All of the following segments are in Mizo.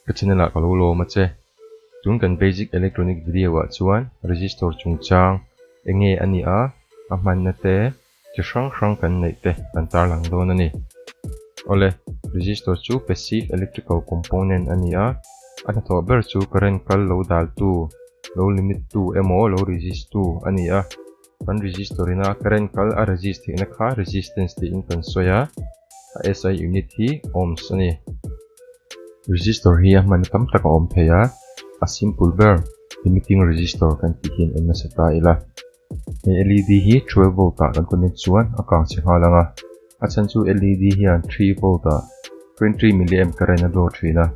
Ka channel ah ka lo lawm a che. Tun kan Basic Electronic Video ah chuan Resistor chungchang enge a ni a, a hmanna te, chi hrang hrang kan neih te kan tarlang dawn a ni. Awle, Resistor chu Passive Electrical Component a ni a, a hnathawh ber chu current kal lo daltu, lo limit tu emaw lo resist tu a ni a. Kan register in a ka rent kal a resist theih na kha resistance tih in kan sawi a, a SI unit hi ohms a ni. Resistor hi a hman tam tak a awm thei a, a simple ber limiting resistor kan tih hian en nasa ta ila. He LED hi twelve volt ah kan connect chuan a kang che nghal ang a, a chhan chu LED hian three volt ah twenty milliamp current a draw thin a,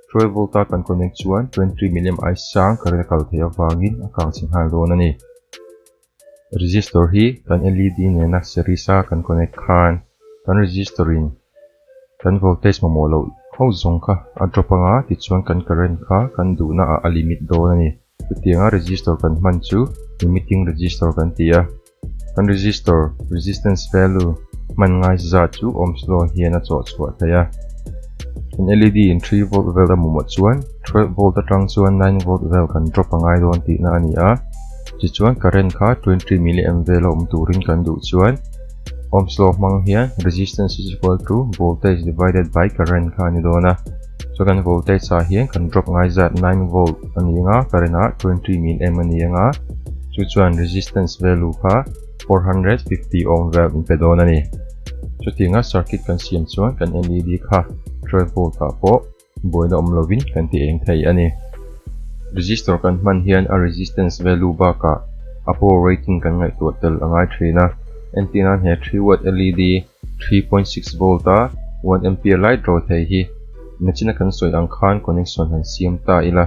Twelve volt a kan connect chuan twenty three milliamp aia sang current a kal theih avangin a kang chhe nghal dawn a ni. Resistor hi kan led nena series a kan connect khan kan resistor in kan voltage mamawh loh ho zawng kha a drop anga tichuan kan current kha kan duhnaah a limit dawn a ni. Chutianga resistor kan hman chu limiting resistor kan ti a. Kan resistor, resistance value, hman ngaise zat chu ohms law hian a chawhchhuah theih a. Kan led in three volt vel a mawmawh chuan twelve volt atang chuan nine volt vel kan drop a ngai dawn tihna a ni a. Tichuan current kha twenty milliamp vel a awm turin kan duh chuan ohms law hmang hian resistance is equal to voltage divided by current kha a ni dawn a. Chu kan voltage ah hian kan drop ngai zat nine volt a ni anga current ah twenty min em a ni anga chu chuan resistance value kha four hundred fifty ohm value in pe dawn a ni. Chutin a circuit kan siam chuan kan LED kha twelve volt ah pawh buaina awm lovin kan ti eng thei a ni. Resistor kan hman hian a resistance value bakah a power rating kan ngaihtuah tel a ngai thin a, entir nan he three watt LED three point six volt a one ampere lai draw thei hi machine a kan sawi ang khan connection han siam ta ila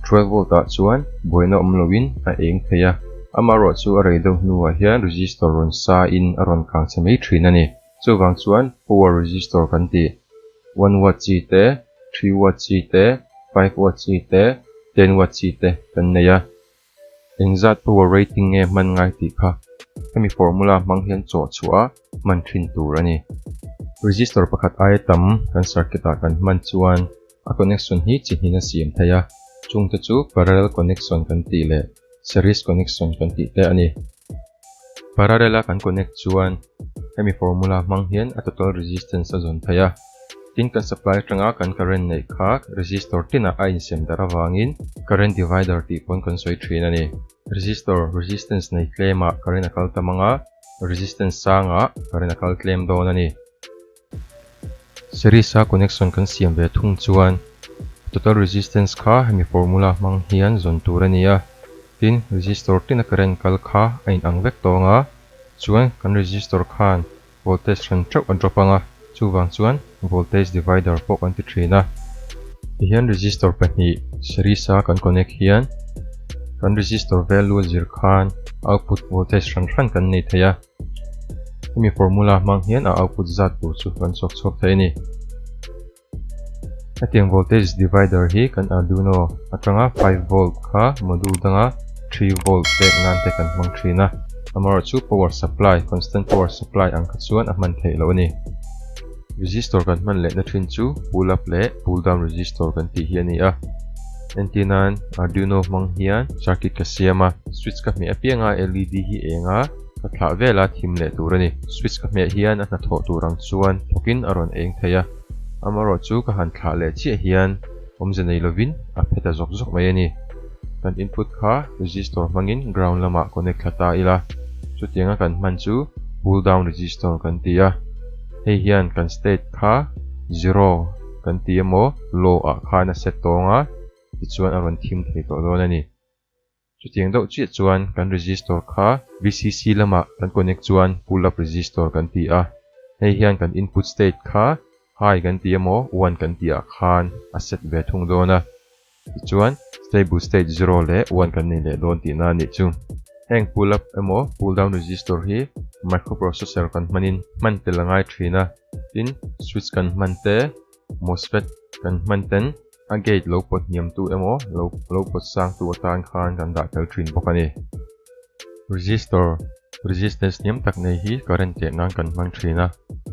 twelve volt ah chuan buaina awm lo in a eng thei a amaherawh chu a rei deuh hnu ah hian resistor rawn sa in a rawn kang chhe mai thin a ni. Chuvang chuan power resistor kan ti one watt chi te three watt chi te five watt chi te ten watt chi te kan nei a Engzat power rating nge hman ngai tih kha hemi formula hmang hian chawh chhuah a hman thin tur a ni. Resistor pakhat aia tam kan circuit ah kan hman chuan a connection hi chi hnin a siam thei a, chungte chu parallel connection kan tih leh series connection kan tih te a ni. Parallel-a kan connect chuan hemi formula hmang hian a total resistance a zawn phei a, tin kan supply atanga kan current neih kha resistor tinah a insem darh avangin current divider tih pawn kan sawi thin a ni. Resistor resistance nei tlem ah current a kal ta mang a, resistance sang ah current a kal tlem dawn a ni. Series a connection kan siam ve thung chuan total resistance kha hemi formula hmang hian zawn tur a ni a, tin resistor tlin a current kal kha a in ang vek tawng a, chuan kan resistor khan voltage hran theuh a drop ang a, chuvang chuan voltage divider pawh kan ti thin a. Ti hian resistor pahnih series a kan connect hian kan resistor value a zir khan output voltage hran hran kan nei thei a. Hemi formula hmang hian a output zat tur chu kan chawk chhuak thei a ni. Hetiang voltage divider hi kan Arduino atanga five volt kha module danga three volt pek nan te kan hmang thin a, amarawh chu power supply, constant power supply ang kha chuan a hman theih loh a ni. Resistor kan hman lehna thin chu pull up leh pull down resistor kan tih hi a ni a. Entinain Arduino hmang hian circuit ka siam a, switch ka hmeh apiang a led hi eng a, ka thlah vel a thim leh tur a ni. Switch ka hmeh hian a hna thawh tur ang chuan thawkin a rawn eng thei a, amarawh chu ka han thlah leh chiah hian awmze nei lovin a phe ta zawk zawk mai a ni. Kan input kha resistor hmangin ground lamah connect thla ta ila, chutianga kan hman chu pull down resistor kan ti a, hei hian kan state kha zero kan ti emaw low ah khan a set tawng a, tichuan a rawn thim thei tawh dawn a ni. Chutiang deuh chiah chuan kan register kha VCC lamah kan connect chuan pull up register kan ti a, hei hian kan input state kha High kan ti emaw One kan ti ah khan a set ve thung dawn a, tichuan stable state Zero leh One kan nei leh dawn tihna a nih chu. Heng pull up emaw pull down register hi microprocessor kan hmanin hman tel a ngai thin a, tin switch kan hman te Mosfet kan hman ten a gate lo pawt hniam tu emaw lo lo pawt sang tu atan khan kan dah tel thin bawk a ni. Resistor, resistance hniam tak nei hi current teh nan kan hmang thin a,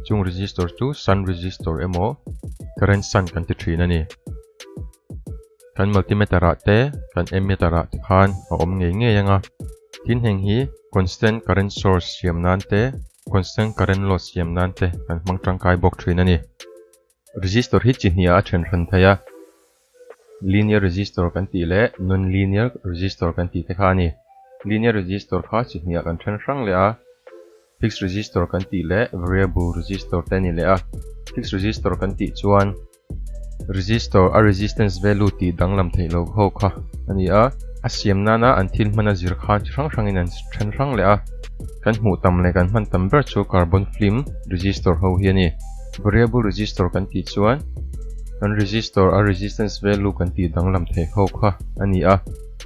chung resistor chu sun resistor emaw current sun kan ti thin a ni. Kan multimeter ah te kan ammeter ah te khan a awm ngei ngei anga, tin heng hi constant current source siam nan te constant current loss siam nan te kan hmang tangkai bawk thin a ni. Resistor hi chi hnih ah a then hran thei a, linear resistor kan tih leh non-linear resistor kan tih te kha a ni. Linear resistor kha chi hnih ah kan then hrang leh a, Fixed register kan tih leh variable register te ni leh a. Fixed register kan tih chuan register a resistance value tih danglam theih lo ho kha a ni a. A siam nana an thil hmana zir khan chi hrang hrangin an then hrang leh a. Kan hmuh tam leh kan hman tam ber chu carbon film register ho hi a ni. Variable register kan tih chuan kan register a resistance value kan tih danglam theih ho kha a ni a.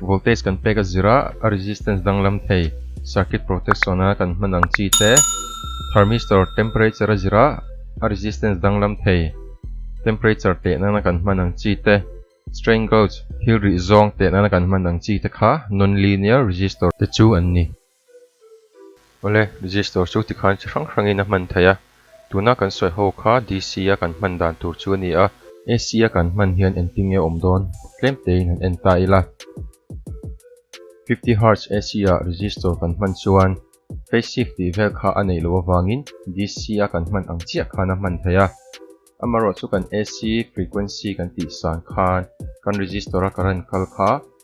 Voltage kan pek a zir a, a resistance danglam thei, circuit protection a kan hman ang chi te, Thermistor temperature a zir a, a resistance danglam thei, temperature teh nana kan hman ang chi te, Strain gauge, thil rih zawng teh nana kan hman ang chi te kha non-linear resistor te chu an ni. Awle, Resistor chu tikhan chi hrang hrangin a hman thei a, tuna kan sawi ho kha DC a kan hman dan tur chu a ni a. AC a kan hman hian entir nge awm dawn tlem tein han en ta ila. Fifty Hertz AC ah Resistor kan hman chuan Phase Shift tih vel kha a neih loh avangin DC a kan hman ang chiah khan a hman thei a. Amaherawhchu kan AC Frequency kan tihsan khan kan Resistor a current kal kha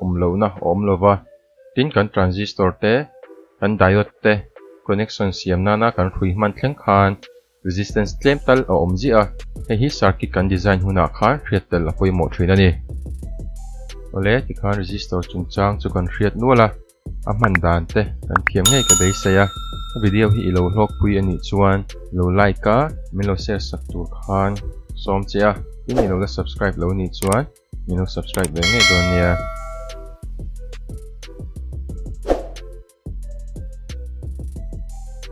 awm lohna a awm lova, tin kan transistor te, kan diode te connection siam nana kan hrui hman thleng khan resistance tlem tal a awm ziah a, hei hi circuit kan design hunah khan hriat tel a pawimawh thin a ni. Awle tikhan resistor chungchang chu kan hriat nual a, a hman dan te kan thiam ngei ka beisei a, ka video hi i lo hlawkpui a nih chuan i lo like a, min lo share sak tur khan sawm che a, tin i lo la subscribe lo nih chuan. min lo subscribe ve ngei dawn nia.